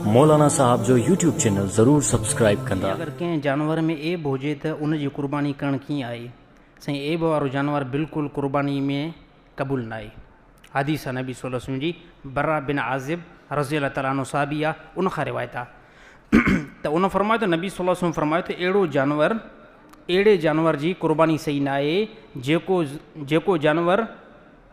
مولانا صاحب جو YouTube channel ضرور سبسڪرائيب ڪندا. اگر ڪنهن جانور ۾ عيب هجي ته ان جي قرباني ڪرڻ ڪيئن آهي؟ سائين عيب وارو جانور بلڪل قرباني ۾ قبول ناهي. حديث آهي نبي صلي الله عليه وسلم جي برا بن عازب رضي الله تعالٰي عنه صحابي آهي ان کان روايت آهي ته ان فرمايو ته نبي صلي الله عليه وسلم فرمايو ته اهڙو جانور اهڙي جانور جي قرباني صحيح ناهي جيڪو جيڪو جانور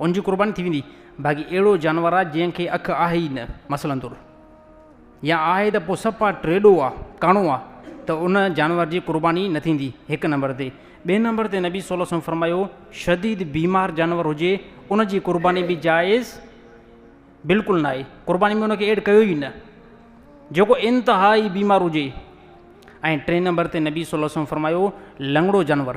ان جي قرباني ٿي ويندي، باقي اهڙو جانور آ جنهن کي اک آهي ئي نه، مثلاً طور. يا آهي ته پوء صفا ٽيڏو آ، ڪاڻو آ، ته ان جانور جي قرباني نه ٿيندي، هڪ نمبر تي. ٻئي نمبر تي نبي صلي الله عليه وسلم فرمايو، شديد بيمار جانور هجي، ان جي قرباني به جائز بلڪل ناهي، قرباني ۾ ان کي ايڊ ڪيو ئي نه، جيڪو انتهائي بيمار هجي. ۽ ٽئين نمبر تي نبي صلي الله عليه وسلم فرمايو، لنگڙو جانور.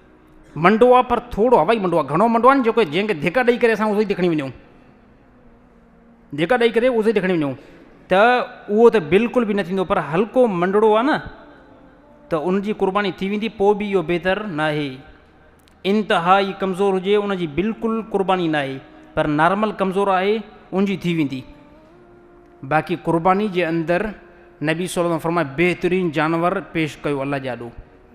منڊو آ پر ٿورو هوائي منڊو آ گهڻو منڊو آ نه جيڪو جنهن کي ڌڪ ڏئي ڪري اسان اهو ئي ڌڪڻي وڃون ڌڪ ڏئي ڪري اهو ئي ڌڪڻي وڃون ته اهو ته بلڪل به نه ٿيندو پر هلڪو منڊڙو آ نه ته ان جي قرباني ٿي ويندي پوء به اهو بهتر نه آهي انتهائي ڪمزور هجي ان جي بلڪل قرباني نه آهي پر نارمل ڪمزور آهي ان جي ٿي ويندي باقي قرباني جي اندر نبي صليٰ فرمائي بهترين جانور پيش ڪيو الله جي آڏو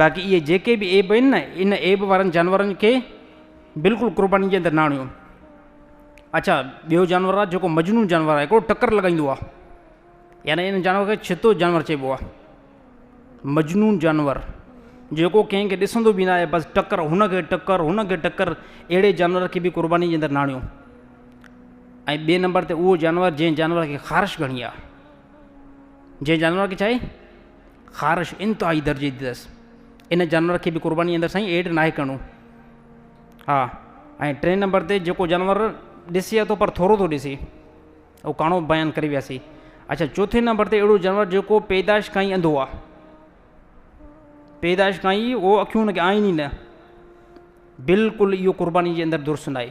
باقي اهي جيڪي به عيب آهن نه ان عيب وارن جانورن کي بلڪل قرباني جي اندر نه آڻيو. اڇا ٻيو جانور آهي جيڪو مجنون جانور آهي هڪڙو ٽڪر لڳائيندو آهي يعني ان جانور کي ڇتو جانور چئبو آهي مجنون جانور جيڪو ڪنهن کي ڏسندو به نه آهي بس ٽڪر هن کي ٽڪر هن کي ٽڪر اهڙي جانور کي به قرباني جي اندر ناڻيو ۽ ٻئي نمبر تي اهو جانور جنهن جانور کي خارش گهڻي آهي جنهن جانور کي چاهي خارش انتهائي درجي جي اٿس ان جانور کي به قرباني اندر سائين ايڊ ناهي ڪرڻو ها ۽ ٽئين نمبر تي جيڪو جانور ڏسي اٿو پر ٿورو ٿو ڏسي اهو ڪاڻو بيان ڪري وياسي اچھا چوٿين نمبر تي اهڙو جانور جيڪو پيدائش کان ئي انڌو آهي پيدائش کان ئي اهو اکيون هن کي آئين ئي نه بلڪل اهو قرباني جي اندر درست ناهي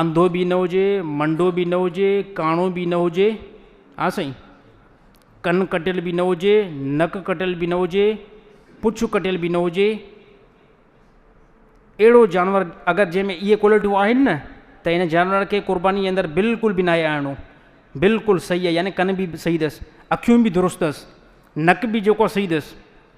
انڌو به نه هجي، منڊو به نه هجي، ڪاڻو به نه هجي، ها سائين، ڪن ڪٽيل به نه هجي، نڪ ڪٽيل به نه هجي، پڇ ڪٽيل به نه هجي، اهڙو جانور اگر جنهن ۾ اهي ڪوالٽيون آهن نه ته ان جانور کي قرباني جي اندر بلڪل به ناهي آڻڻو بلڪل صحيح آهي يعني ڪن به صحيح اٿس، اکيون به درست اٿس، نڪ به جيڪو صحيح اٿس.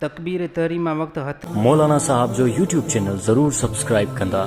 تڪبير تحريمه وقت هٿ. مولانا صاحب جو يوٽيوب چينل ضرور سبسڪرائب ڪندا.